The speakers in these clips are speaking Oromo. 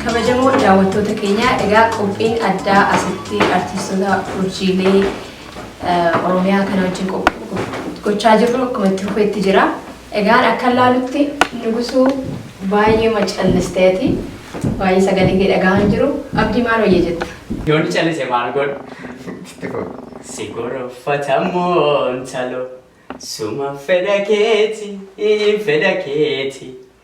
kabajamoo daawwattoota keenyaa egaa qophiin addaa asitti artistoota urjiilee eh, oromiyaa kana wajjin qop- gochaa jirru akkuma itti fufetti jira Egaan akkan laalutti Nugusuu baay'eema calliste ati baay'ee sagalee kee dhagahaa hin jiru Abdii maal wayya jetta? Yoon callise maal godhu? Sitti goru. Si gorofata moo intalo suma fedha keeti fedha keeti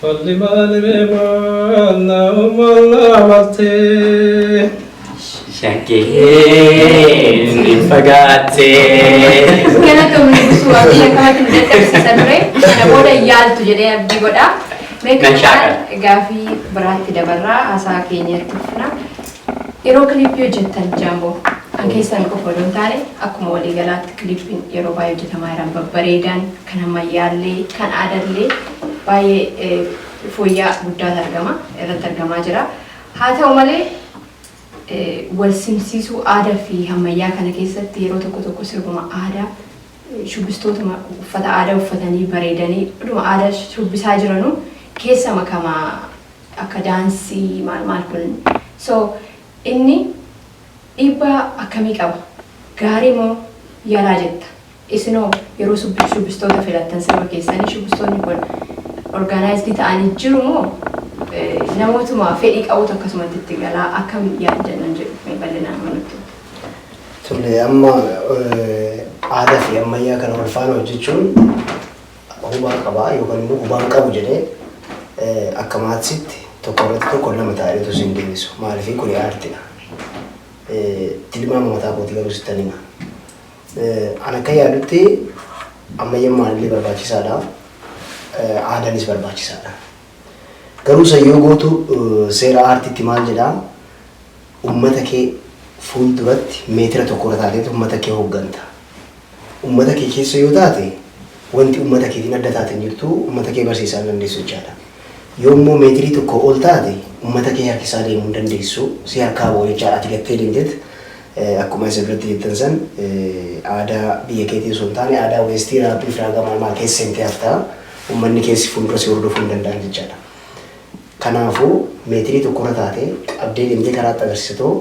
Falli maali ree maalla maalla maltee. Shakkeen ni fagaatte. Kana kamni busuu abdii akkamatti nu dadhabsiisa ture. Kana booda yaaltu jedhee abdii godha. Mee Nan shaakala. kanaan gaafii biraatti dabarraa haasaa keenya itti fufna. Yeroo kiliippii hojjettan jaamboo kan keessan qofa odoo hin taane akkuma waliigalaatti kiliippiin yeroo baay'ee hojjetamaa jiran babbareedan kan ammayyaallee kan aadallee baay'ee fooyyaa guddaatu argama irratti argamaa jira. Haa ta'u malee wal simsiisuu aadaa fi hammayyaa kana keessatti yeroo tokko tokko sirbuma aadaa shubbistootuma uffata aadaa uffatanii bareedanii dhuma aadaa shubbisaa jiranuu keessa makama akka daansii maal maal kun so inni dhiibbaa akkamii qaba gaarii moo yalaa jetta Isinoo yeroo shubbistoota filattan sirba keessanii shubbistoonni kun organized ta'anii jiru moo namootuma fedhii qabutu akkasumatti itti gala akkam yaaddan nan jedhuuf mee bal'inaan yoo nutti himte. Tole amma aadaa fi ammayyaa kana wal faana hojjechuun hubaa qabaa yookaan immoo hubaan qabu jedhee akka maatsitti tokko irratti tokko lama taa'ee utuu siin deebisu maaliif kuni aartidha. Tilmaama mataa kootii garuu sittan hima. An akkan yaadutti ammayyammaan illee barbaachisaadha. Aadaanis barbaachisaadha. Garuu san yoo gootu seera aartiitti maal jedhaa ummata kee fuulduratti meetira tokkorra taateet ummata kee hogganta. Ummata kee keessa yoo taate wanti ummata keetiin adda taate hin jirtu ummata kee barsiisaa hin dandeessu jechaadha. Yoo immoo meetirii tokkoo ol taate ummata kee harkisaa deemuu hin dandeessu si harkaa bahu jechaadha ati gattee deemteet Akkuma isin irratti jettan san aadaa biyya keetii osoo hin taane aadaa weestii raapii fi raagaa maalmaa keessa seentee hafta. Ummanni keessi fuuldura si hordofuu hin danda'an jechaadha. Kanaafuu meetirii tokkorra taatee qabdee deemtee karaatti agarsiisatoo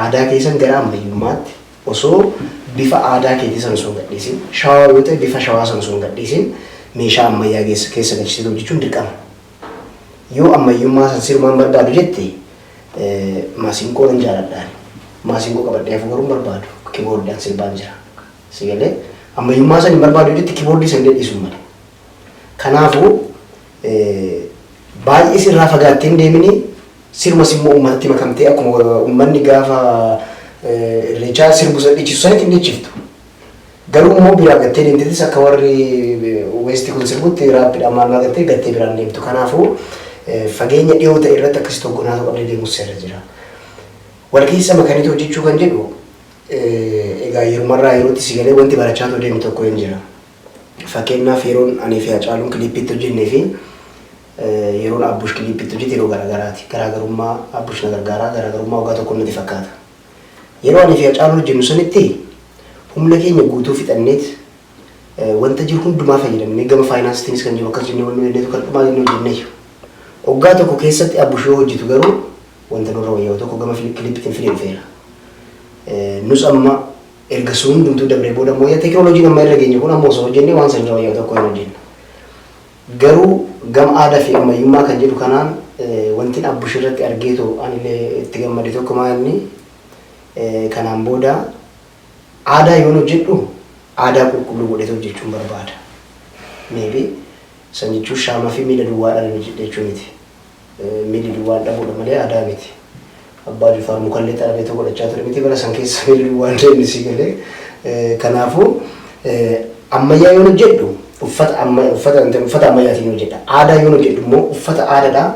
aadaa keessan gara ammayyummaatti osoo bifa aadaa keetii san osoo hin gadhiisin shawaa yoo ta'e bifa shawaa san osoo hin gadhiisin meeshaa ammayyaa keessa galchisiitu hojjechuun dirqama. Yoo ammayyummaa san sirumaan barbaadu jette Maasinqoo nan jaaladha ani. Maasinqoo qabadhee hafuu garuu hin barbaadu. Kiboordiidhaan sirbaan jira. Si galee ammayyummaa san hin barbaadu jetti kiboordii san illee dhiisuun male. Kanaafuu baay'ee sirraa fagaattee hin deemini sirumas immoo uummatatti makamtee akkuma uummanni gaafa irreechaa sirbu san dhiichisu sanitti hin dhiichiftu. Garuu immoo biraa gattee deemtetis akka warri Weestii kun sirbutti raappiidhaan maal maal gattee gattee biraan deemtu. Kanaafuu fageenya dhiyoo ta'e irratti akkasitti hoggonaatuu qabdee deemus seerri jira. Wal keessa makaniitu hojjechuu kan jedhu egaa yerumarraa yerootti si galee wanti barachaatoo deemu tokko hin jira. Fakkeenyaaf yeroon anii fi Hacaaluun kiliippiitti hojjennee fi yeroon Abbush kiliippiitti hojjete yeroo garaagaraati. Garaagarummaa Abbush na gargaaraa garaagarummaa waggaa tokko natti fakkaata. Yeroo aniifi Hacaaluun hojjennu sanitti humna keenya guutuu fixanneet wanta jiru hundumaa fayyadamnee gama faayinaansiitiinis kan jiru akkas jennee wanni hojjenneetu kan dhumaa jennee hojjenneyyu. Waggaa tokko keessatti Abush yoo hojjetu garuu wanta nurra wayyaa'u tokko gama kilippiitiin fidee dhufeera. Nus amma erga sun hundumtuu dabree booda ammoo teekinooloojiin amma irra geenye kun amma osoo hojjennee waan sanirra wayyaa'u tokko hin hojjenna. Garuu gama aadaa fi ammayyummaa kan jedhu kanaan wantin Abbush irratti argeetu anillee itti gammade tokko maa inni kanaan booda aadaa yoon hojjedhu aadaa qulqulluu godheetu hojjechuun barbaada. Maybe Sanyichuu Shaamafii miila duwwaadhaan hin hojjedhe jechuu miti. Miilli duwwaan dhabuudha malee aadaa miti. Abbaa Jifaar mukallee xarabeetoo godhachaa ture miti bara san keessa miilli duwwaan deemni si galee. Kanaafuu ammayyaa yoon hojjedhu uffata amma uffata uffata ammayyaatiin hojjedha. Aadaa yoon hojjedhu immoo uffata aadaadhaa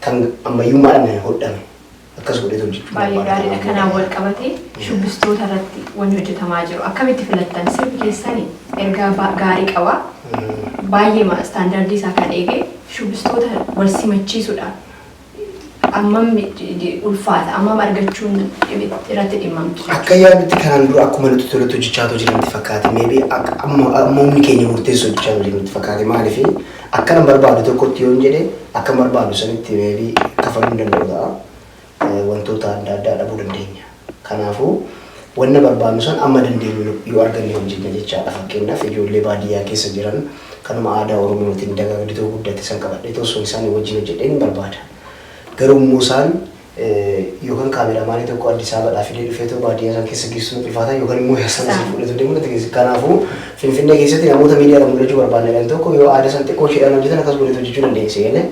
kan ammayyummaadhaan hodhame akkas godheetan jechuu Baay'ee barbaada gaariidha. kanaan booda. Kanaan wal qabatee shubbistoota irratti wanni hojjetamaa jiru akkamitti filattan? Sirbi keessan ergaa ba- gaarii qaba. Baay'eema istaandardii isaa kan eege shubbistoota wal simachiisuudha. Ammam j- j- ulfaata? Ammam argachuun dhimi- irratti dhimmamtu jechuudha. Akka yaadutti kanaan dura akkuma nuti tolutti hojjechaa otoo jiranitti fakkaate maybe akka amma amma humni keenya murteessu hojjechaa otoo jiranitti fakkaate maaliif Akkanan barbaadu tokkotti yoon jedhe akkan barbaadu sanitti may be kafaluu hin danda'u ta'a. Wantoota adda addaa dhabuu dandeenya. Kanaafuu wanna barbaannu san amma dandeenyu yoo arganne hojjenna jechaadha. Fakkeenyaaf ijoollee baadiyyaa keessa jiran kanuma aadaa Oromootiin dagaagdetoo guddatte san qabadheetoo osoo isaanii wajjin hojjedheen hin barbaada. Garuu immoo isaan Yookan kaameramaanii tokko Addisaabaadhaa fidee dhufeetoo baadiyyaa san keessa geessu natti ulfaata yookan immoo eessaan asii fuudheetoo deemu natti geessu. Kanaafuu Finfinnee keessatti namoota miidiyaadhaan mul'achuu barbaanna jedhan tokko yoo aada san xiqqoo isheedhaan hojjetan akkas godheet hojjechuu dandeenya si galee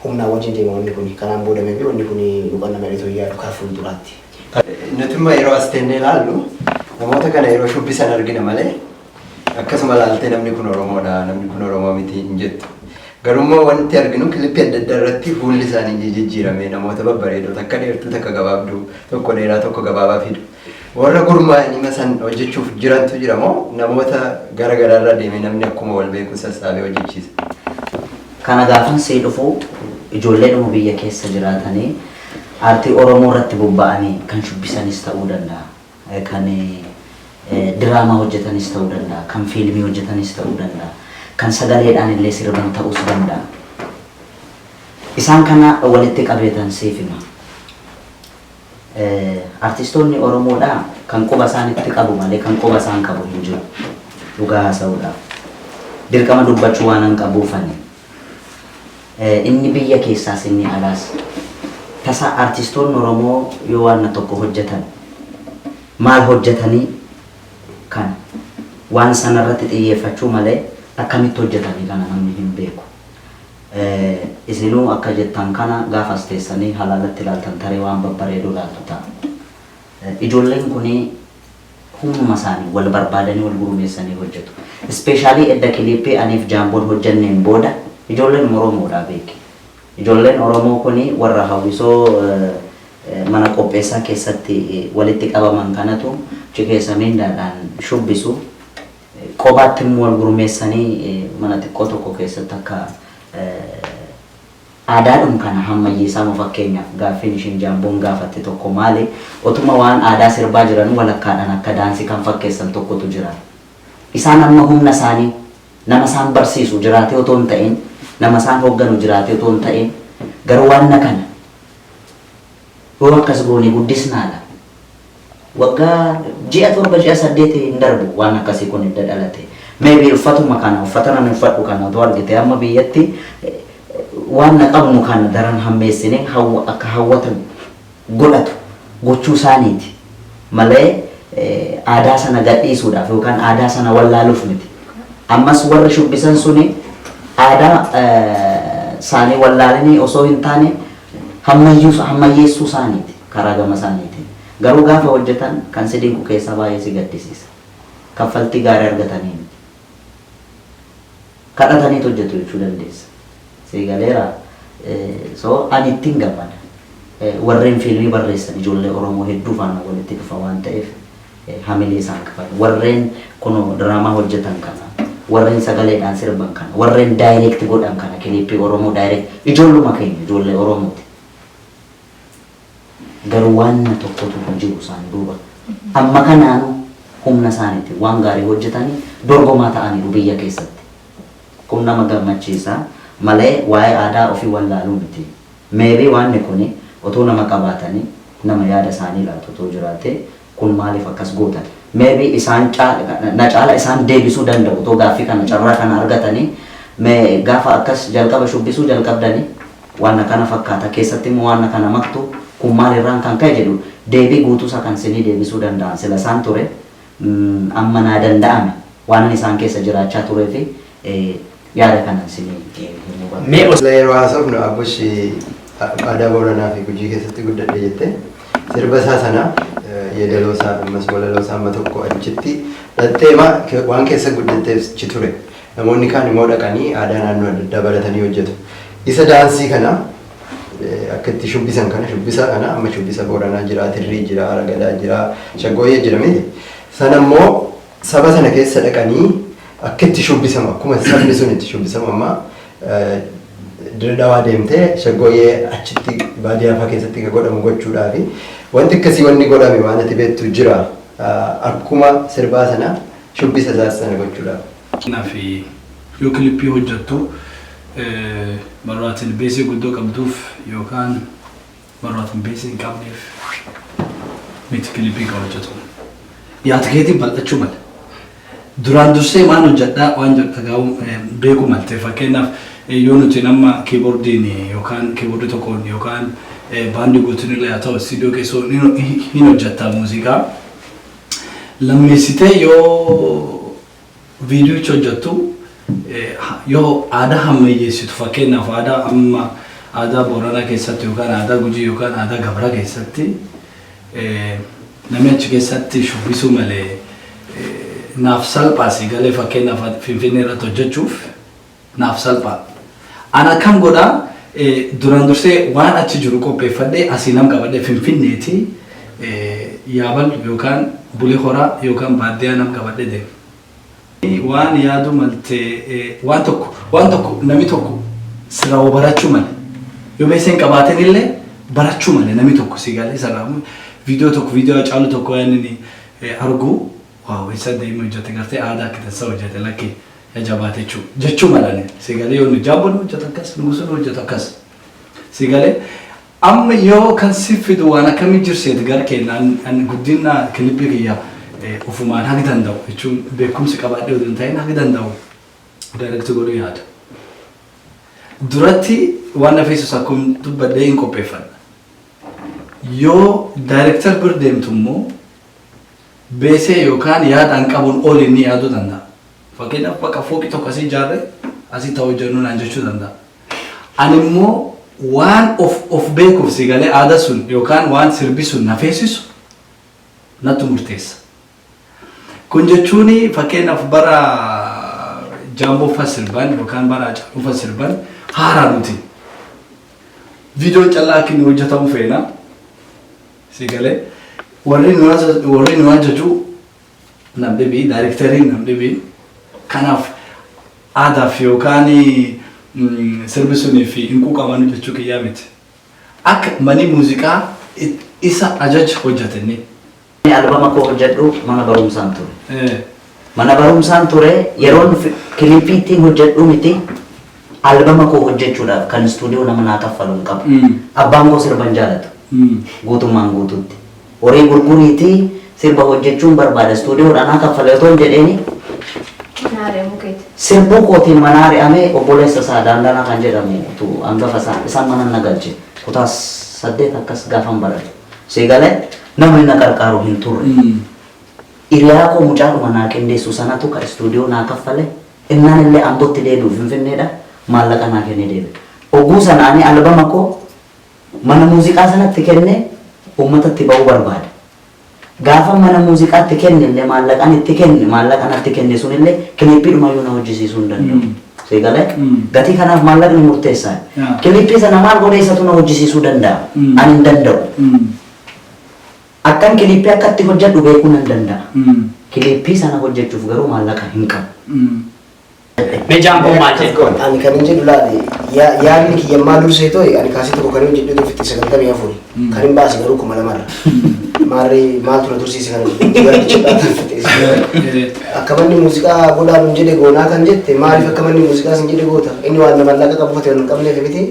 humnaa wajjin deema wanni kuni. Kanaan booda maybe wanni kuni nu qannama jedheetoo hin yaadu kara fuulduraatti. Nutimmoo yeroo as teennee ilaallu namoota kana yeroo shubbisan argina malee Akkasuma ilaaltee namni kun Oromoodha, namni kun Oromoo miti hin jettu. Garummoo wanti arginu kilippii adda addaa irratti fuulli isaanii ni jijjiirame namoota babbareedoo takka dheertuu takka gabaabduu tokko dheeraa tokko gabaabaa fidu. Warra gurmaa'anii masan hojjechuuf jirantu jira moo namoota gara garaa irra deemee namni akkuma wal beeku sassaabee hojjechiisa? Kana gaafan sii dhufu ijoollee dhuma biyya keessa jiraatanii aartii Oromoo irratti bobba'anii kan shubbisanis ta'uu danda'a. kan diraamaa hojjetanis ta'uu danda'a, kan fiilmii hojjetanis ta'uu danda'a, kan sagaleedhaan illee sirban ta'uus danda'a. Isaan kana walitti qabeetan siif hima. Artistoonni Oromoodhaa kan quba isaanitti qabu malee kan quba isaan qabu hin jiru. Dhugaa haasa'uudhaaf. Dirqama dubbachuu waanan qabuufani. Inni biyya keessaas inni alaas. Tasa artistoonni Oromoo yoo waanna tokko hojjetan maal hojjetanii kana waan sana irratti xiyyeeffachuu malee akkamitti hojjetanii kana namni hin beeku. Isinuu akka jettan kana gaafa as teessanii halaalatti ilaaltan tarii waan babbareeduu ilaaltu ta'a. Ijoolleen kuni. Humnuma isaaniin wal barbaadanii wal gurmeessanii hojjetu. Specially edda kiliippii aniif Jaamboon hojjenneen booda ijoolleen Oromoodha beeki. Ijoolleen Oromoo kuni warra hawwisoo mana qopheessaa keessatti walitti qabaman kanatu cikeessa mindaadhaan shubbisu. Qobaatti immoo wal gurmeessanii mana xiqqoo tokko keessatti akka Aadaadhum kana hammayyeessaa moo fakkeenyaaf gaaffiin ishiin Jaamboon gaafatte tokko maali otuma waan aadaa sirbaa jiranuu walakkaadhaan akka daansii kan fakkeessan tokkotu jira. Isaan amma humna isaanii nama isaan barsiisu jiraatee otoo hin ta'iin nama isaan hoogganu jiraatee otoo hin ta'iin garuu wanna kana. Yoo akkas goone guddisnaadha. Waggaa ji'a torba ji'a saddeet hin darbu waan akkasii kun edda dhalate. May be uffatuma kana uffatan ani uffadhu kana otoo argite amma biyyatti waanna qabnu kana daran hammeessine hawwa akka hawwata godhatu gochuu isaaniiti malee aadaa sana gadhiisuudhaaf yookaan aadaa sana wallaaluuf miti. Ammas warri shubbisan suni aadaa isaanii wallaalanii osoo hin taane hammayyuus hammayyeessuu isaaniiti karaa gama isaaniitiin. Garuu gaafa hojjetan kan si dinqu keessaa baay'ee si gaddisiisa. Kaffaltii gaarii argatanii miti. Kadhataniit hojjetu jechuu dandeessa. Sii galeera? So ani ittiin gammada. Warreen fiilmii barreessan ijoollee Oromoo hedduu faana walitti dhufa waan ta'eef. hamilee isaan qabate. Warreen kunoo diraamaa hojjetan kana, warreen sagaleedhaan sirban kana, warreen direct godhan kana, clip Oromoo direct, ijoolluma keenya, ijoollee Oromooti. Garuu waanna tokkotu hin jiru isaan duuba. Amma kanaanuu humna isaaniitiin waan gaarii hojjetanii dorgomaa ta'aniiru biyya keessatti. Kun nama gammachiisa malee waa'ee aadaa ofii wallaaluu miti. Maybe waanni kuni otoo nama qabaatanii nama yaada isaanii laatu otoo jiraatee kun maaliif akkas gootan? Maybe isaan caala na caala isaan deebisuu danda'u otoo gaaffii kana carraa kana argatanii me gaafa akkas jalqaba shubbisuu jalqabdani waan akkana fakkaata keessatti immoo waan akkana maktu kun maal irraan kan ka'e jedhu deebii guutuu isaa kan isinii deebisuu danda'an sila isaan ture Amma naa danda'ame. Waanan isaan keessa jiraachaa tureefi yaada kanan isinii himuu barbaade. Mee yeroo haasofnu Abush aadaa Booranaa fi Gujii keessatti guddadhe jette. Sirba isaa sana yeedaloo isaa fi ammas walaloo isaa amma tokko achitti dhattee ma waan keessa guddatteef achi ture. Namoonni kaan immoo dhaqanii aadaa naannoo adda addaa baratanii hojjetu. Isa daansii kana Akka itti shubbisan kana shubbisa kana amma shubbisa Booranaa jira, Tirrii jira, Aragadaa jira, Shaggooyyee jira miti. Sana immoo saba sana keessa dhaqanii akka itti shubbisamu akkuma sabni sun itti shubbisamu amma Dirree Dhawaa deemtee Shaggooyyee achitti baadiyyaa fa'aa keessatti akka godhamu gochuudhaafi wanti akkasii wanni godhame waan ati beektu jira akkuma sirbaa sana shubbisa isaas sana gochuudhaaf. Fakkeenyaaf yoo kilippii hojjattu marroo ati ilbeesee guddoo qabduuf yookaan marroo ati ilbeesee hin qabneef miti kilippii kan hojjatu. Yaad keetiin bal'achuu mala. Duraan dursee maan hojjadhaa waan jedhu dhagaa'uu beekuu malte. Fakkeenyaaf yoo nuti nama kiiboordiin yookaan kiiboordii tokkoon yookaan baandii guutuun illee haa ta'u istiidiyoo keessoo hin hojjattaa muuziqaa. Lammeessitee yoo Viidiyoicha hojjattu yoo aadaa hammayyeessitu fakkeenyaaf aadaa amma aadaa Booranaa keessatti yookaan aadaa Gujii yookaan aadaa Gabraa keessatti namni achi keessatti shubbisuu malee naaf salphaa sii galee fakkeenyaaf Finfinnee irratti hojjachuuf naaf salphaadha. An akkam godha duraan dursee waan achi jiru qopheeffadhee asii nam qabadhee finfinneeti yaabal yookaan bule horaa yookaan baaddiyaa nam qabadhee deema. Waan yaadu malte waan tokko waan tokko nami tokko sirraa waa barachuu male yoo beessa hin qabaatin illee barachuu male nami tokko si galee sirraa viidiyoo tokko viidiyoo hacaaluu tokko waan inni arguu Wow essa daima hojjate garte aada akka tansa hojjate lakki ya jabaate jechu jechu malani si gale yoo nu jaabo nu hojjata akkas nugusu nu hojjata akkas si gale amma yoo kan si fidu waan akkami jirseet gar keenya an guddina kilipii kiyya ufumaan hagi danda'u jechuun beekumsi qabaadhee oduu hin ta'in hagi danda'u direct godhu yaada duratti waan na feesus akkum dubbadhee hin qopheeffadha yoo director bir deemtu immoo beesee yookaan yaada an qabuun ol inni yaaduu danda'a. Fakkeenyaaf bakka fooqii tokko asii ijaarre asitti haa hojjennu naan jechuu danda'a. Ani immoo waan of of beekuuf si galee aada sun yookaan waan sirbi sun na feesisu nattu murteessa. Kun jechuun fakkeenyaaf bara jaambooffa sirban yookaan bara haacaaluufa sirban haaraa nuti. Viidiyoon callaa akka inni hojjetamu feena. Si galee warri nu haasa- warri nu hajjaju nam dhibii daayirikteriin nam dhibii kanaaf aadaaf yookaan mm, sirbi sunii fi hin quuqamanu jechuu kiyyaa miti. Akka manii muuziqaa it- isa ajaj hojjatenni. Ani albama koo hojjedhu mana barumsaan ture. Eh, Mana barumsaan ture yeroon kiliippii ittiin hojjedhu miti albama koo hojjechuudhaaf kan istuudiyoo nama naa kaffalu hin qabu. Abbaan koo sirba hin jaalatu guutummaan guutuutti. Horii gurguriitii sirba hojjechuun barbaada istuudiyoodhaa naa kaffali otoon jedheenii Mana ari'amuu keeti. sirbuu kootiin manaa ari'amee obboleessa isaa Daandanaa kan jedhamu tu hangafa isaa isaan manan na galche kutaa saddeet akkas gaafan baradhu. Sii galee nama inni na qarqaaru hin turre. Iriyaa koo mucaadhuma naa qindeessu sanatu ka istuudiyoo naa kaffale, ennaan illee Ambotti deebi'u Finfinneedha, maallaqa naa kennee deebi'e. Ogguu sana ani albama koo mana muuziqaa sanatti kennee uummatatti ba'uu barbaade. Gaafan mana muuziqaatti kenne illee maallaqan itti kenne, maallaqa natti kenne sun illee kiliippiidhuma iyyuu na hojjisiisuu hin danda'u. Sii galee? Gatii kanaaf maallaqni murteessaadha. Kiliippii sana maal godhee isatu na hojjisiisuu danda'a? Ani hin danda'u. Akkan kiliippii akka itti hojjedhu beekuu nan danda'a. Kiliippii sana hojjechuuf garuu maallaqa hin qabu. Mee Jaankoon maal jedhe? Jaankoon, Ani kanin jedhu laali, yaadni kiyya ammaa dursee to'i, ani kaaseeta koo kanin hojjedhee ture fixxee 94, kanin baase garuu 2000 irra. Maarree maaltu na tursiise kana jechuu yaadni cimdaa tan fixxee. Akka manni muuziqaa godhaa nun jedhe goonaa kan jette maaliif akka manni muuziqaa sin jedhe goota? Inni waan maallaqa qabu fate waan hin qabneef miti.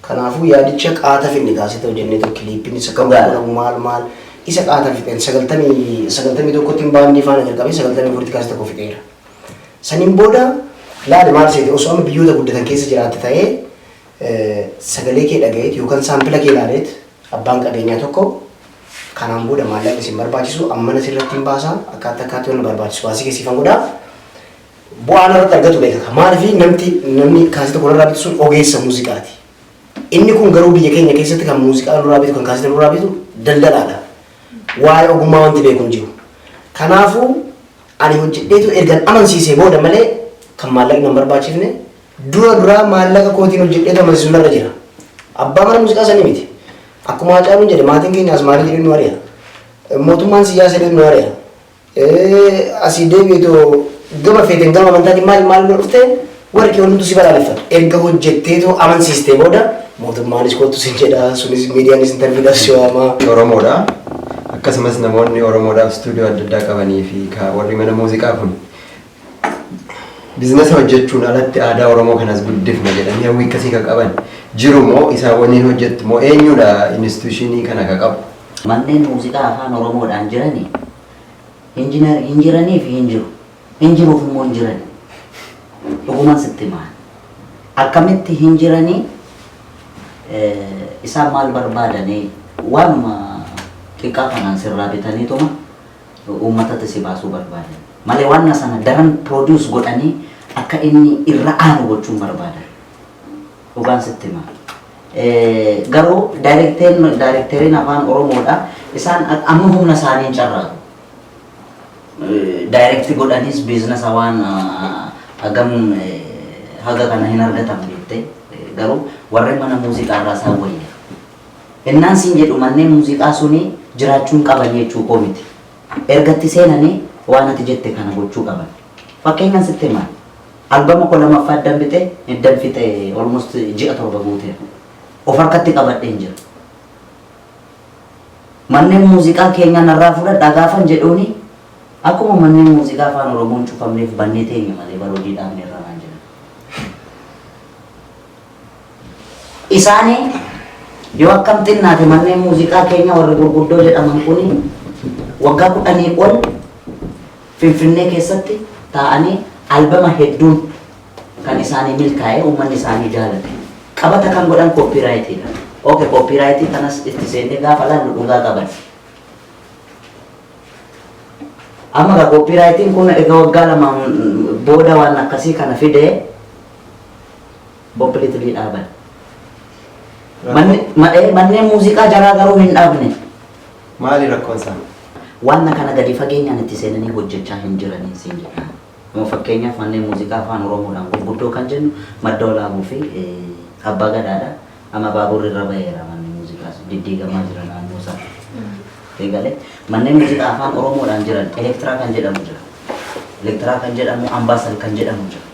Kanaafuu yaadicha qaata finne kaa sitoo jennee too kiliippiin isa kan gurguramu maal maal isa qaata fixeen sagaltamii sagaltamii tokkottiin baandii faana jalqabee sagaltamii afuritti kaasita koo fixeera. Saniin booda laali maal seete osoo amma biyyoota guddatan keessa jiraatte ta'ee sagalee kee dhagayeet yookaan saampila kee laaleet abbaan qabeenyaa tokko kanaan booda maallaqni isin barbaachisu ammana sirratti hin baasaa akkaatti akkaatti wanna barbaachisu baasii kee siifan godhaaf Bu'aa narratti argatu beekaka. Maaliif namti namni kaasita kun irraa bitu sun ogeessa muuziqaati. Inni kun garuu biyya keenya keessatti kan muuziqaa nurraa bitu kan kaasita nurraa bitu daldalaadha. Waa'ee ogummaa wanti beeku hin jiru. Kanaafuu ani hojjedheetu ergan amansiisee booda malee kan maallaqni hin barbaachifne dura duraa maallaqa kootiin hojjedheetu amansiisu narra jira. Abbaa mana muuziqaa sanii miti. Akkuma Haacaaluun jedhe maatiin keenya asmaarii jedhee nu ari'a. Mootummaan siyyaasa jedhee nu ari'a. Ee asii deebi'eetoo gama feeteen gama amantaatiin maal maal bira dhufte warri kee hundumtuu si balaaleffatu. Erga hojjetteetoo amansiistee booda mootummaanis kottu sin jedha sunis miidiyaanis intarviidhaaf si waama. Oromoodha. Akkasumas namoonni Oromoodhaaf istuudiyoo adda addaa qabanii fi ka warri mana muuziqaa kun Bizinasa hojjechuun alatti aadaa Oromoo kanas guddifna jedhanii hawwii akkasii kan qaban jiru moo isaan waliin hojjettu moo eenyudha inistitushiinii kana kan qabu? Manneen muuziqaa Afaan Oromoodhaan jirani Injinar hin jiraniifi hin jiru. Hin jiruuf immoo hin jirani. Dhuguman sitti hima ani. Akkamitti hin jirani isaan maal barbaadani waanuma xiqqaa kanaan sirraa bitaniituma uummatatti si baasuu barbaadan. Malee waanna sana daran produce godhanii akka inni irra aanu gochuun barbaadan. Dhugaan sitti hima. Eh, Garuu daayirekteen daayirekteeriin afaan Oromoodha. Isaan a- amma humna isaaniin carraaqu. daayirekti godhanis biiznasa waan ah, hagam eh, haga kana hin argatan beekte Eh, garuu warri mana muuziqaa irraa isaan wayya Ennaan siin jedhu manneen muuziqaa suni jiraachuu hin qaban jechuu koo miti. Erga itti seenani waan ati jette kana gochuu qaban. Fakkeenyan sitti hima. Albama koo lamaffaa eddan bixe, eddan fixe almost ji'a torba guuteera. Of harkatti qabadheen jira. Manneen muuziqaa keenyaa narraa fudhadhaa gaafan jedhuuni akkuma manneen muuziqaa Afaan Oromoon cufamneef bannee teenya malee bar hojii dhaabneerra naan jedhan. isaanii yoo akkam xinnaate manneen muuziqaa keenya warri gurguddoo jedhaman kun waggaa kudhanii ol Finfinnee keessatti taa'anii albama hedduun kan isaanii milkaa'ee uummanni isaanii jaalate. Qabata kan godhan kooppiiraayitiidha. Oke kooppiiraayitii kanas itti seennee gaafa laallu dhugaa qaban. Amma egaa kooppiiraayitiin kun egaa waggaa lamaan booda waan akkasii kana fidee Completely dhaaban. Manni- ma- eh, Manneen muuziqaa jaraa garuu hin dhaabne. Maali rakkoon isaa? Waan kana gadi fageenyaan itti seenanii hojjechaa hin jiranii siin jedha. Amma fakkeenyaaf manneen muuziqaa afaan Oromoodhaan gurguddoo kan jennu madda olaabuu fi eh, abbaa gadaadha. Amma baaburri irra baheera manneen muuziqaas diddiigamaa jira naannoo isaa. Eegalee manneen muuziqaa afaan Oromoodhaan jiran elektiraa kan jedhamu jira. Elektiraa kan jedhamu ambaasal kan jedhamu jira.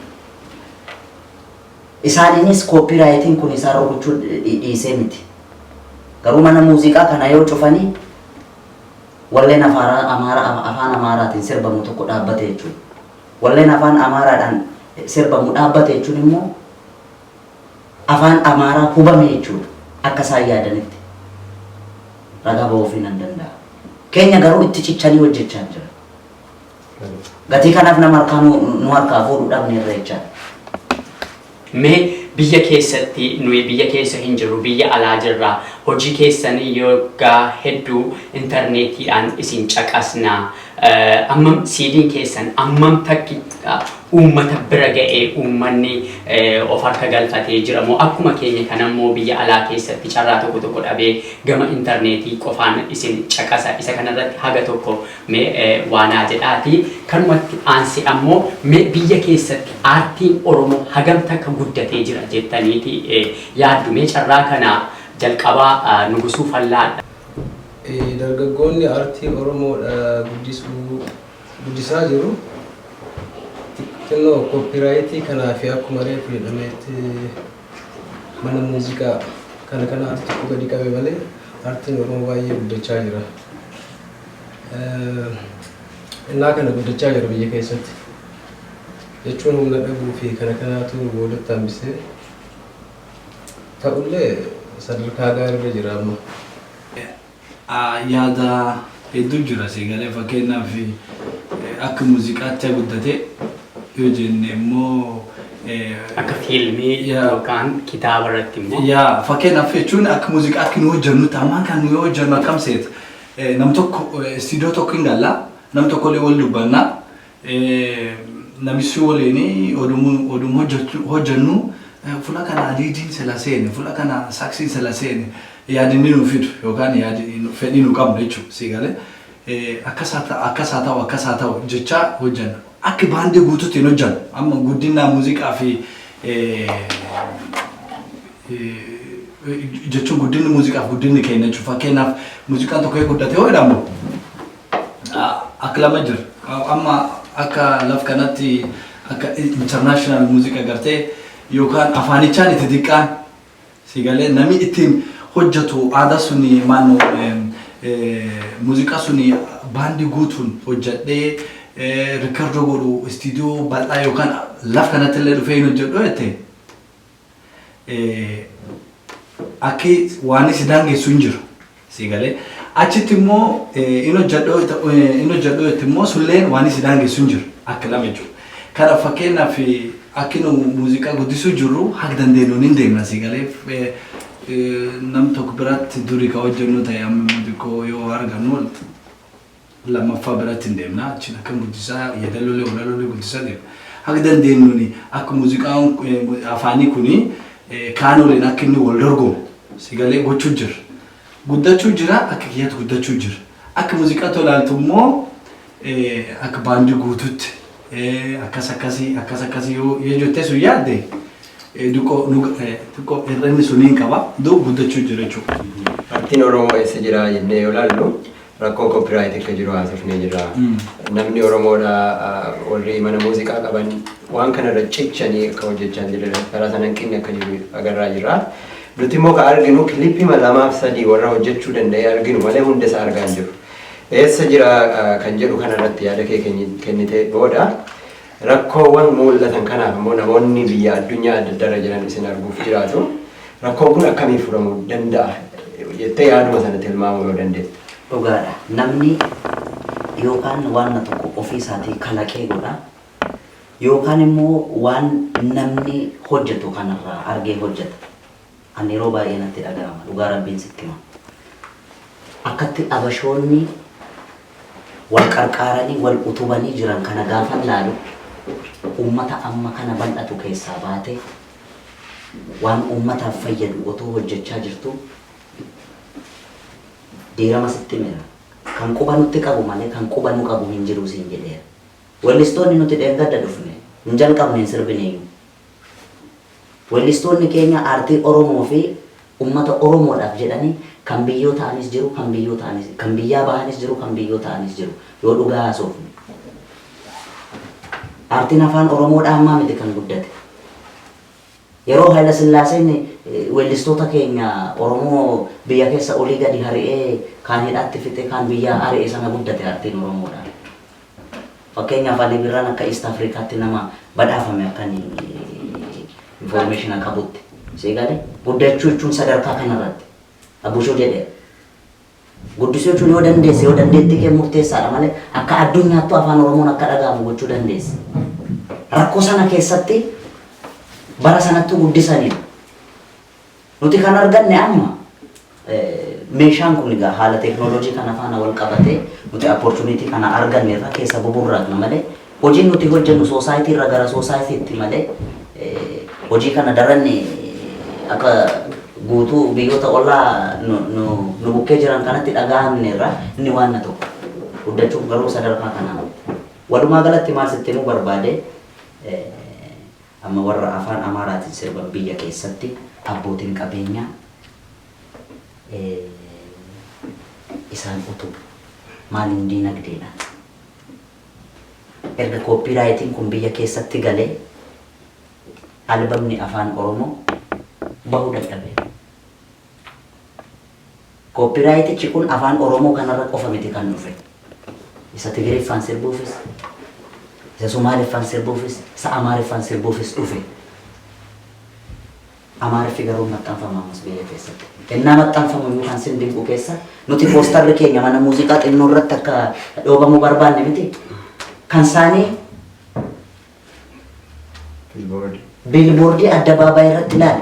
Isaaniinis copyrightiin kun isaan rukuchuu dhiisee miti. Garuu mana muuziqaa kana yoo cufanii walleen afaaraa amaara afaan amaaraatiin sirbamu tokko dhaabbate jechuudha. Walleen afaan amaaraadhaan sirbamu dhaabbate jechuun immoo afaan amaaraa hubame jechuudha. Akka isaan yaadanitti ragaa ba'uufii nan danda'a. Keenya garuu itti cichanii hojjechaa hin jiran. Gatii kanaaf nama harkaa nu nu harkaa fuudhu dhabneerra jechaa. Mee biyya keessatti nuyi biyya keessa hin jirru biyya alaa jirra hojii keessan yoggaa hedduu interneetiidhaan isin caqasna eh, ammam siidiin keessan ammam takki ah, uummata bira ga'ee uummanni eh, of harka galfatee jira moo akkuma keenya kana immoo biyya alaa keessatti carraa tokko tokko dhabee gama interneetii qofaan isin caqasa isa kanarratti haga tokko Mee waa naa jedhaatii kanumatti aansee ammoo mee biyya keessatti aartiin Oromoo hagam takka guddatee jira jettaniiti yaaddu? Mee carraa kana jalqaba Nugusuu Fallaadha. Dargaggoonni aartii Oromoo guddisuu, guddisaa jiru. Xinnoo kooppiiraayitii kanaa fi akkuma reefu jedhameetti mana muuziqaa kana kanaatu xiqqoo gadi qabe malee aartiin Oromoo baay'ee guddachaa jira. Innaa kana guddachaa jiru biyya keessatti. Jechuun humna dhabuu fi kana kanaatu nu boodatti hambisee ta'ullee sadarkaa gaariirra jira amma. Yaada hedduu jira sii galee fakkeenyaaf akka muuziqaatti guddatee yoo jenne immoo Akka fiilmii Yaa. yookaan kitaaba irratti immoo. yaa fakkeenyaaf jechuun akka muuziqaatti nu hojjennutti ammaan kan nu yoo hojjennu akkam seeta Nam tokko istiidiyoo tokko hin galla. Nam tokko illee wal dubbanna. Namichi waliin oduma hojjannu fula kana liidiin sila seene, fula kana saksiin sila seene yaadinni nu fidu yookaan fedhii nu qabnu jechuudha. Sii galee akkas haa ta'u, akkas haa ta'u, akkas haa ta'u jechaa hojjanna. Akka baandii guutuutti hin hojjannu. Amma guddinaa muuziqaa fi jechuun guddinni muuziqaaf guddinni keenya jechuun fakkeenyaaf muuziqaan tokko guddate yoo jedhamu akka lama jira. Amma akka laf kanatti akka international muuziqa gartee yookaan afaanichaan itti diqqaan sigalee namni ittiin hojjetu aadaa suni maannu muuziqaa suni baandii guutuun hojjedhee rikkardoo godhu istiidiyoo bal'aa yookaan laf kanatti illee dhufee hin hojjedhu jettee. akki waan si daangessu hin jiru. Si galee achitti immoo in hojjedhoo itti immoo sulleen waan si daangessu hin jiru akka lama jechuudha. Kana fakkeenyaaf akki nu muuziqaa guddisuu jirru haga dandeenyuun hin deemna si galee nam tokko biratti duri ka hojjennu ta'e amma immoo xiqqoo yoo argannu lammaffaa biratti hin deemna achiin akkan guddisaa yeedaloolee walaloolee guddisaa deema haga dandeenyuun akka muuziqaan afaanii kun kaan waliin akka inni wal dorgomu sigalee gochuu jira guddachuu jira akka kiyyaatti guddachuu jira akka muuziqaa tolaaltu immoo akka baandii guututti akkas akkasii akkas akkasii yoo jettee sun yaadde xiqqoo hir'inni suniin qaba duu guddachuu jira jechuudha. Artiin Oromoo eessa jira jennee yoo ilaallu Rakkoo copyright akka jiru haasofnee jirra. Namni Oromoodha warri mana muuziqaa qaban waan kanarra cichanii akka hojjechaa hin jirre karaa sana hanqinni akka jiru agarraa jirra. Nuti immoo ka arginu kilipima lamaaf sadii warra hojjechuu danda'e arginu malee hunda isaa argaa hin jiru. Eessa jira kan jedhu kanarratti yaada kee kennitee booda Rakkoowwan muul'atan kanaaf immoo namoonni biyya addunyaa adda addaa irra jiran isin arguuf jiraatu. Rakkoon kun akkamiin furamu danda'a jettee yaaduma sana tilmaamuu yoo dandeette? Dhugaadha. Namni yookaan waanna tokko ofii isaatii kalaqee godha. Yookaan immoo waan namni hojjetu kanarraa argee hojjeta. An yeroo baay'ee natti dhaga'ama dhugaa rabbiin sitti hima akkatti abashoonni wal qarqaaranii wal utubanii jiran kana gaafan laalu ummata amma kana bal'atu keessaa baatee waan ummataaf fayyadu otoo hojjechaa jirtuu diirama sitti himeera kan quba nutti qabu malee kan quba nu qabu hin jiruu siin jedheera wellistoonni nuti dheengadda dhufne hin jalqabne hin sirbineeyyuu Wellistoonni keenya aartii Oromoo fi ummata Oromoodhaaf jedhanii kan biyyoo ta'anis jiru, kan biyyoo ta'anis, kan biyyaa bahanis jiru, kan biyyoo ta'anis jiru. Yoo dhugaa haasofne. Aartiin Afaan Oromoodhaa ammaa miti kan guddate. Yeroo Hayila Sillaaseen wellistoota keenya Oromoo biyya keessa olii gadi hari'ee kaan hidhaatti fixee kaan biyyaa ari'e sana guddate aartiin Oromoodhaa. Fakkeenyaaf Ali Birraan akka East Africaatti nama badhaafame akkan information qabutti. Sii galee? Guddachuu jechuun sadarkaa kanarratti. Abushoo jedheera. Guddisuu jechuun yoo dandeesse yoo dandeettii kee murteessaadha malee akka addunyaattuu afaan Oromoon akka dhaga'amu gochuu dandeessa. Rakkoo sana keessatti bara sanattuu guddisaniiru. Nuti kan arganne amma meeshaan kun egaa haala teeknooloojii kana faana wal qabatee nuti apportuniitii kana arganne irra keessa buburraaqna malee hojiin nuti hojjennu soosaayitii irra gara soosaayitiitti malee hojii kana daran akka guutuu biyyoota ollaa nu bukkee jiran kanatti dhagahamne irra inni waan na tokko guddachuuf garuu sadarkaa kanaa walumaa galatti maal sitti himuu barbaade Amma warra afaan Amaaraatiin sirban biyya keessatti abbootiin qabeenyaa isaan utubu. Maaliin diinagdeedhaan. Erga kooppiiraayitiin kun biyya keessatti galee albamni afaan Oromoo bahuu dadhabeera. Kooppiiraayitichi kun Afaan Oromoo kanarra qofa miti kan dhufe. Isa Tigiriffaan sirbuufis, isa Sumaaliffaan sirbuufis, isa Amaariffaan sirbuufis dhufe. Amaariffi garuu hin maxxanfamu ammas biyya keessatti. Ennaa maxxanfamu iyyuu kan sin dinqu keessa nuti poostarri keenya mana muuziqaa xinnoorratti akka dhoobamu barbaanne miti. Kan isaanii Bilboordi. Biilboordii addabaabaayii irratti laali.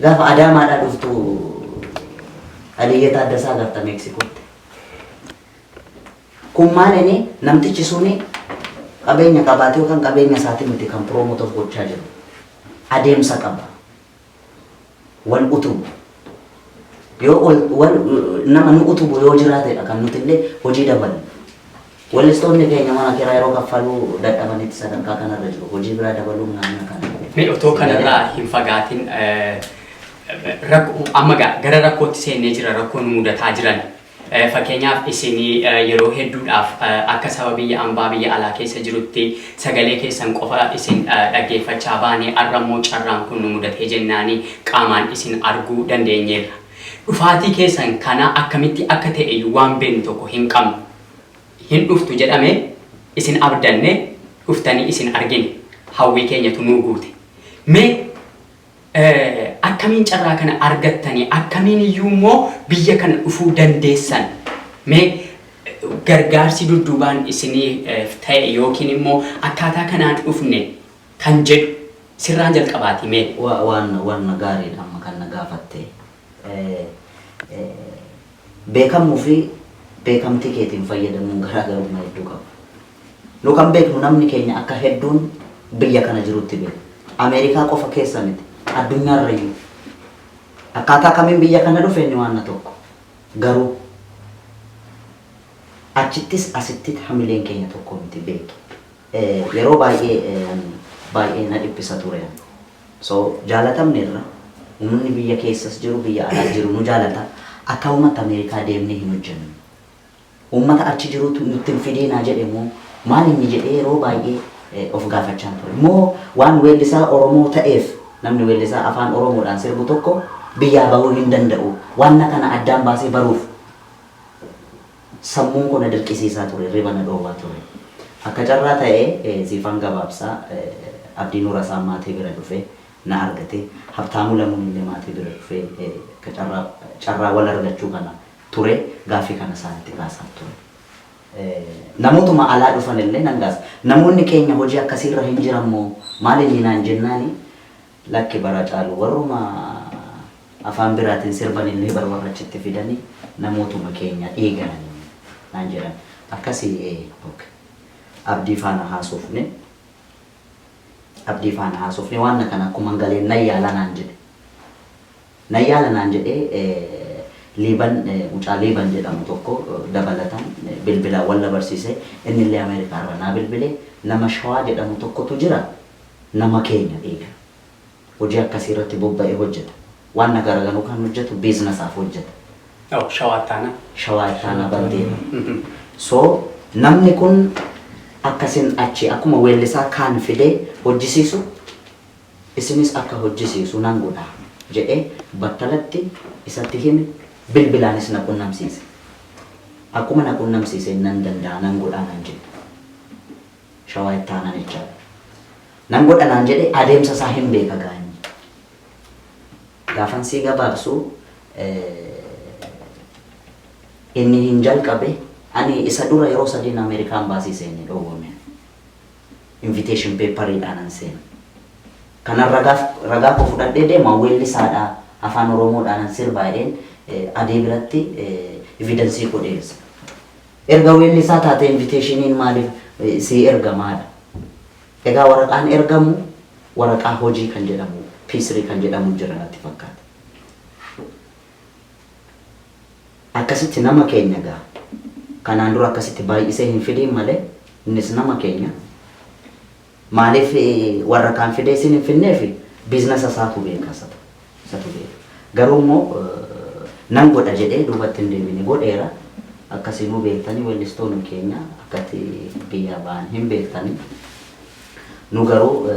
Gaafa Adaamaadhaa dhuftu Aliyyee Taaddasaa agarta Meeksikootti. Kun maalinni namtichi suni qabeenya qabaatee yookaan qabeenya isaatiin miti kan promote of gochaa jiru. Adeemsa qaba. wal utubu yoo ol- wal nama nu utubu yoo jiraatedha kan nuti illee hojii dabalu. Weellistoonni keenya mana kiraa yeroo kaffaluu dadhabanitti sadarkaa kanarra jiru. Hojii biraa dabaluun naannoo kana. Mee otoo kanarraa hin fagaatin eh, rakko- amma gaa gara rakkootti seennee jira rakkoo nu mudataa jiran Fakkeenyaaf isin yeroo hedduudhaaf akka saba biyya ambaa biyya alaa keessa jirutti sagalee keessan qofa isin dhaggeeffachaa baane arra immoo carraan kun nu mudatee jennaani qaamaan isin arguu dandeenyeerra. Dhufaatii keessan kana akkamitti akka ta'eyyuu waan beennu tokko hin qabnu. Hin dhuftu jedhame isin abdanne dhuftanii isin argine hawwii keenyatu nuu guute. Mee. Akkamiin carraa kana argattani? Akkamiin iyyuu immoo biyya kana dhufuu dandeessan? Mee gargaarsi dudduubaan isiniif ta'e yookiin immoo akkaataa kanaan dhufne kan jedhu sirraan jalqabaati mee. Waan waan gaariidha amma kan na gaafatte. Beekamuu fi beekamtii keetiin fayyadamuun garaagarummaa hedduu qaba. Nu kan beeknu namni keenya akka hedduun biyya kana jirutti beekna. Ameerikaa qofa keessa miti, addunyaarrayyuu. Akkaataa kamiin biyya kana dhufe inni waanna tokko. Garuu achittis asittit hamileen keenya tokko miti beeki. Yeroo baay'ee ani baay'ee na dhiphisa ture ani. So jaalatamneerra. Uummanni biyya keessas jiru, biyya alaas jiru nu jaalata. Akkaumatti Ameerikaa deemnee hin hojjennu. Uummata achi jiruutu nutti hin fidiinaa jedhe moo maal inni jedhee yeroo baay'ee of gaafachaan ture. Moo waan weellisaa Oromoo ta'eef namni weellisaa Afaan Oromoodhaan sirbu tokko biyyaa bahuu hin danda'u. Waanna kana addaan baasee baruuf sammuun koo na dirqisiisaa ture, hirriba na dhoowwaa ture. Akka carraa ta'ee Ziifaan Gabaabsaa Abdii Nurasaan maatii bira dhufee na argate. Habtaamuu Lamuun illee maatii bira dhufee akka carraa carraa wal argachuu kana ture gaaffii kana isaanitti kaasaa ture. Namootuma alaa dhufan illee nan gaasa. Namoonni keenya hojii akkasii irra hin jiran moo maal inni naan jennaani lakki bara caalu warruma afaan biraatiin sirban illee bar warra achitti fidani namootuma keenya dhiigaan naan jedhan. Akkasii ee ok. Abdii faana haasofne. Abdii faana haasofne waan kana akkuman galeen nan yaala naan jedhe. Nan yaala naan jedhee Liiban mucaa Liiban jedhamu tokko dabalatan bilbilaan wal na barsiise. Inni illee Ameerikaa irraa naa bilbile. Nama Shawaa jedhamu tokkotu jira. Nama keenya eega. Hojii akkasii irratti bobba'ee hojjeta. Waan na garagaruu kan hojjetu biizinasaaf hojjeta. Oh, Shawaa Ittaanaa. Shawaa Ittaanaa Baldeena. So, namni kun akkasin achi akkuma weellisaa kaan fidee hojjisiisu, isinis akka hojjisiisu nan godha jedhee battalatti isatti hime, bilbilaanis na qunnamsiise. Akkuma na qunnamsiiseen nan danda'a nan godha naan jedhe. Shawaa Itti Aanaan HR. Nan godha naan jedhe adeemsa isaa hin beeka gaa inni. Gaafan sii gabaabsu inni hin jalqabe ani isa dura yeroo sadiin Amerikaa Ambaasii seene dhoowwame. invitation paper dhaanan seena. Kanan ragaaf ragaa koo fudhadhee deema weellisaadha afaan oromoodhaanan sirbaa jedheen Adee biratti evidence koo dhiyeessa. Erga weellisaa taatee invitationiin maaliif sii ergamaa dha. Egaa waraqaan ergamu waraqaa hojii kan jedhamu P3 kan jedhamu jira natti fakkaata. Akkasitti nama keenya egaa kanaan dura akkasitti baay'isee hin fidiin malee innis nama keenya maaliif warra kaan fidee isin hin fidneef biiznasa isaatu beeka isatu isatu beeka garuu immoo nan godha jedhee duubatti hin deebine godheera akkasiinuu beektanii weellistoonni keenya akkatti biyyaa ba'an hin beektanii. Nu garuu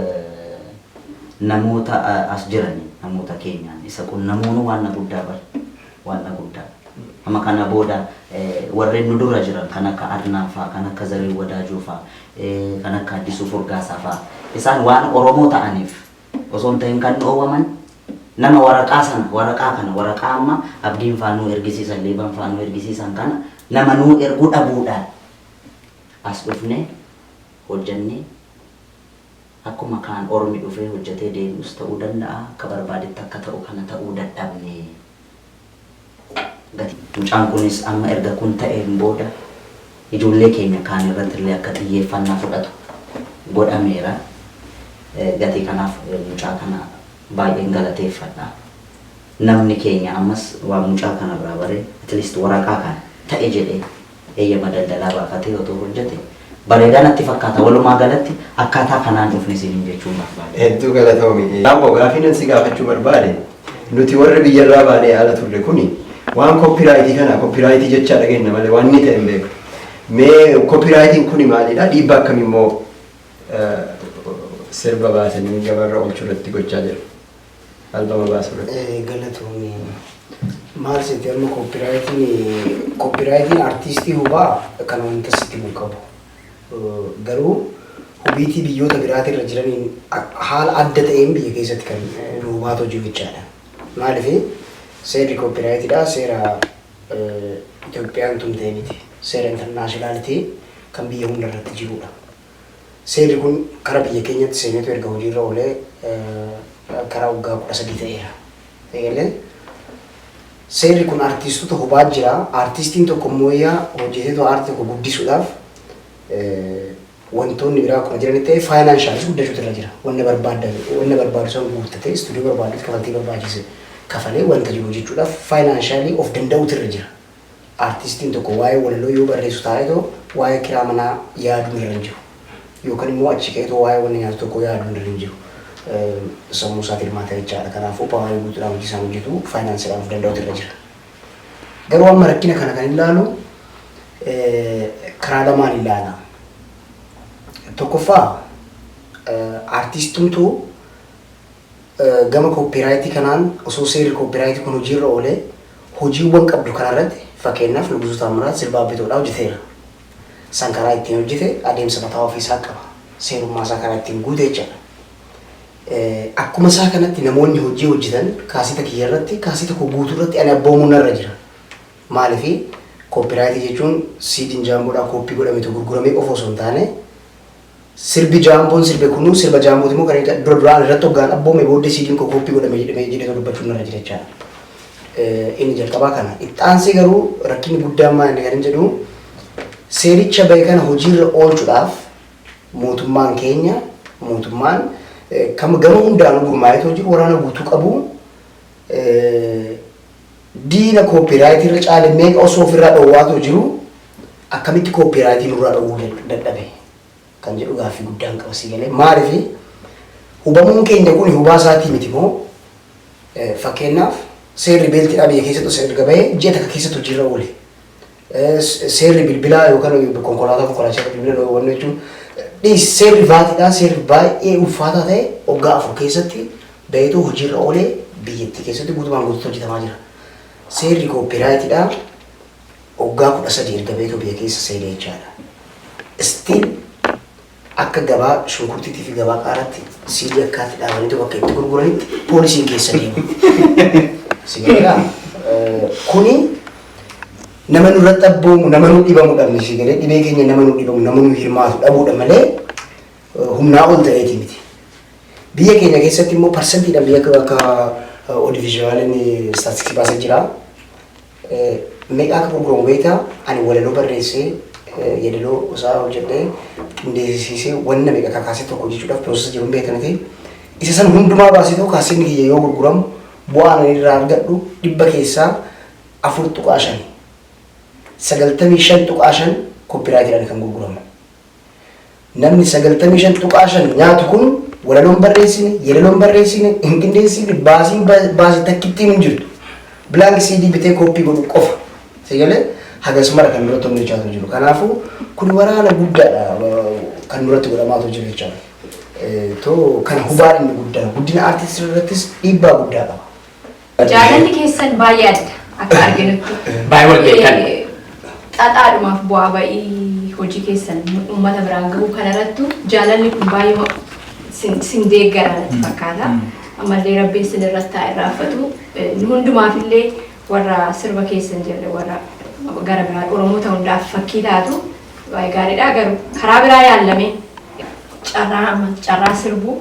namoota as jiraniin, namoota keenyaan isa qunnamuunuu waanna guddaa bar. Waanna guddaa. Amma kana booda warreen nu dura jiran kan akka Adnaan faa, kan akka Zarihuun Wadaajoo faa, kan akka Addisuu Furgaasaa faa isaan waan Oromoo ta'aniif osoo hin tahin kan dhoowwaman nama waraqaa sana, waraqaa kana, waraqaa amma Abdiin faa nuu ergisiisan, Liiban faa nuu ergisiisan kana nama nuu ergu dhabuudhaan as dhufnee hojjannee akkuma kaan ormi dhufee hojjatee deebi'us ta'uu danda'a akka barbaadetti akka ta'u kana ta'uu dadhabne gatii. Mucaan kunis amma erga kun ta'een booda ijoollee keenya kaan irrattillee akka xiyyeeffannaa fudhatu godhameera. Gatii kanaaf mucaa kana baay'een galateeffadha. Namni keenya ammas waan mucaa kanarraa bare at least waraqaa kana ta'e jedhee eeyyama daldalaa baafatee otoo hojjete bareedaa natti fakkaata. Walumaa galatti akkaataa kanaan dhufne isiniin jechuun barbaade. Hedduu galatoomi. Abboo gaaffii nan si gaafachuu barbaade nuti warri biyyarraa baanee ala turre kuni waan koppiraayitii kana koppiraayitii jechaa dhageenna malee waan inni ta'e hin beeknu. Mee koppiraayitiin kuni maalidha? Dhiibbaa akkamii immoo sirba baasanii gabaarra oolchuu irratti gochaa jiru? albama baasu irratti. Galatoomi. Maal seete amma koppiraayitiin koppiraayitiin artiistii hubaa kan wanta sitti hin qabu. Garuu hubiitii biyyoota biraatii irra jiraniin haala adda ta'een biyya keessatti kan nu hubaatoo jiru jechaadha. Maaliif seerri koppiraayitiidhaa seera Itoophiyaan tumtee miti. Seera intarnaashinaalitii kan biyya hunda irratti jirudha. Seerri kun kara biyya keenyatti seeneetu erga hojiirra oolee kara waggaa 13 ta'eera. Eegalee seerri kun artiistota hubaa jira. Artiistiin tokko mooyyaa hojjeteetu aartii tokko guddisuudhaaf wantoonni biraa akkuma jiranitti ta'ee faayinaanshaaliis guddachuutu irra jira. Wanna barbaadda wanna barbaadu san guuttatee istuudiyoo barbaaddutti kafaltii barbaachise kafalee wanta jiru hojjechuudhaaf faayinaanshaalii of danda'uutu irra jira. Artistiin tokko waa'ee walaloo yoo barreessu taa'eetoo waa'ee kiraa manaa yaaduun irra hin jiru. Yookan immoo achi ka'eetoo waa'ee wanna nyaatu tokkoo yaaduun irra hin jiru. Sammuu isaa tilmaata jechaadha. Kanaafuu paawarii guutuudhaan hojii isaan hojjetu faayinaansiidhaan of danda'utu irra jira. Garuu amma rakkina kana kan ilaalu karaa lamaan ilaala. Tokkoffaa artiistumtuu Gama kooppiiraayitii kanaan osoo seerri kooppiiraayitii kun hojiirra oolee hojiiwwan qabdu kanarratti fakkeenyaaf Nugusuu Taammiraat sirba Abbitoodhaa hojjeteera. San karaa ittiin hojjete adeemsa mataa ofii isaa qaba. Seerummaa isaa karaa ittiin guute jechaadha. Akkuma isaa kanatti namoonni hojii hojjetan kaaseta kiyya irratti kaaseta koo guutuu irratti ani abboomuun narra jira. Maaliif kooppiiraayitii jechuun siidiin jaamboodhaa kooppii godhametu gurguramee qofa osoo hin taane Sirbi Jaamboon sirbe kun sirba Jaambooti moo kan dura duraan irratti hoggaan abboome booddee siidiin koo kooppii godhame jedhame jedheetoo dubbachuun narra jira jechaadha. Eh, Inni jalqabaa kana. Itti aansee garuu rakkinni guddaan maal inni kan hin jedhu seericha bahe kana hojiirra oolchuudhaaf mootummaan keenya mootummaan eh, kam- gama hundaanuu gurmaa'eetoo jiru waraana guutuu qabu eh, diina kooppiiraayitii irra caale meeqa osoo ofirraa dhoowwaatoo jiru akkamitti kooppiiraayitii nurraa dhowwuu dadhabe kan jedhu gaaffii guddaan qaba sii galee maalifi hubamuun keenya kun hubaa isaatii miti moo fakkeenyaaf seerri beeltii dhaa biyya keessatti osoo erga bahee ji'a takka keessatti hojiirra oole seerri bilbilaa yookaan konkolaataa konkolaachisaa bilbila dhoowwannu jechuun dhiis seerri vaatiidhaa seerri baay'ee ulfaataa ta'e waggaa afur keessatti baheetu hojiirra oolee biyyattii keessatti guutumaan guutuutti hojjetamaa jira. Seerri kooppiiraayitiidhaa Waggaa 13 erga beeto biya keessa seene jechaadha. Still akka gabaa shunkurtiitii fi gabaa qaaraatti siidii akkaatti dhaabaniitu bakka itti gurguranitti poolisiin keessa deema. Si garaa kuni nama nurra dhabboomu nama nu dhibamu dhabne si galee dhibee keenya nama nu dhibamu nama nu hirmaatu dhabuudha malee humnaa ol ta'eeti miti. Biyya keenya keessatti immoo parsentiidhaan biyya akka akka odivizhinaaliin istaatistiksii baasa jira. Meeqa akka gurguramu beektaa? Ani walaloo barreessee, yadaloo isaa hojjedhee, qindeesisiisee wanna meeqa kakaasee tokko hojjechuudhaaf process jiru hin beekta miti. Isa san hundumaa baaseetoo kaaseenni kiyya yoo gurguramu bu'aan ani irraa argadhu dhibba keessaa afur tuqaa shani. Sagaltamii shan tuqaa shan copyrightidhaan kan gurguramu. Namni 95.5 nyaatu kun walaloo hin barreessine, yeedaloo hin barreessine, hin qindeessifne, baasiin baase takkittiin hin jirtu. Blank CD bitee kooppii godhu qofa. Si galee hagas mara kan duratti hojjechaa ture jiru. Kanaafuu kun waraana guddaadha kan duratti godhamaa ture jiru jechaadha. Too kana hubaan inni guddaan guddina aartii irrattis dhiibbaa guddaa qaba. Jaalalli keessan baay'ee adda akka arginutti. Baay'ee wal beektan. Xaxaadhumaaf bu'aa ba'ii hojii keessan uummata biraan gahuu kanarrattu jaalalli kun baay'ee sin sin deeggara natti fakkaata. Ammallee rabbiin sin irratti haa irraanfatu. Nu hundumaafillee warra sirba keessan jirre warra gara biraa Oromoota hundaaf fakkii taatu baay'ee gaariidha. Garuu karaa biraa yaallamee carraa amma carraa sirbuu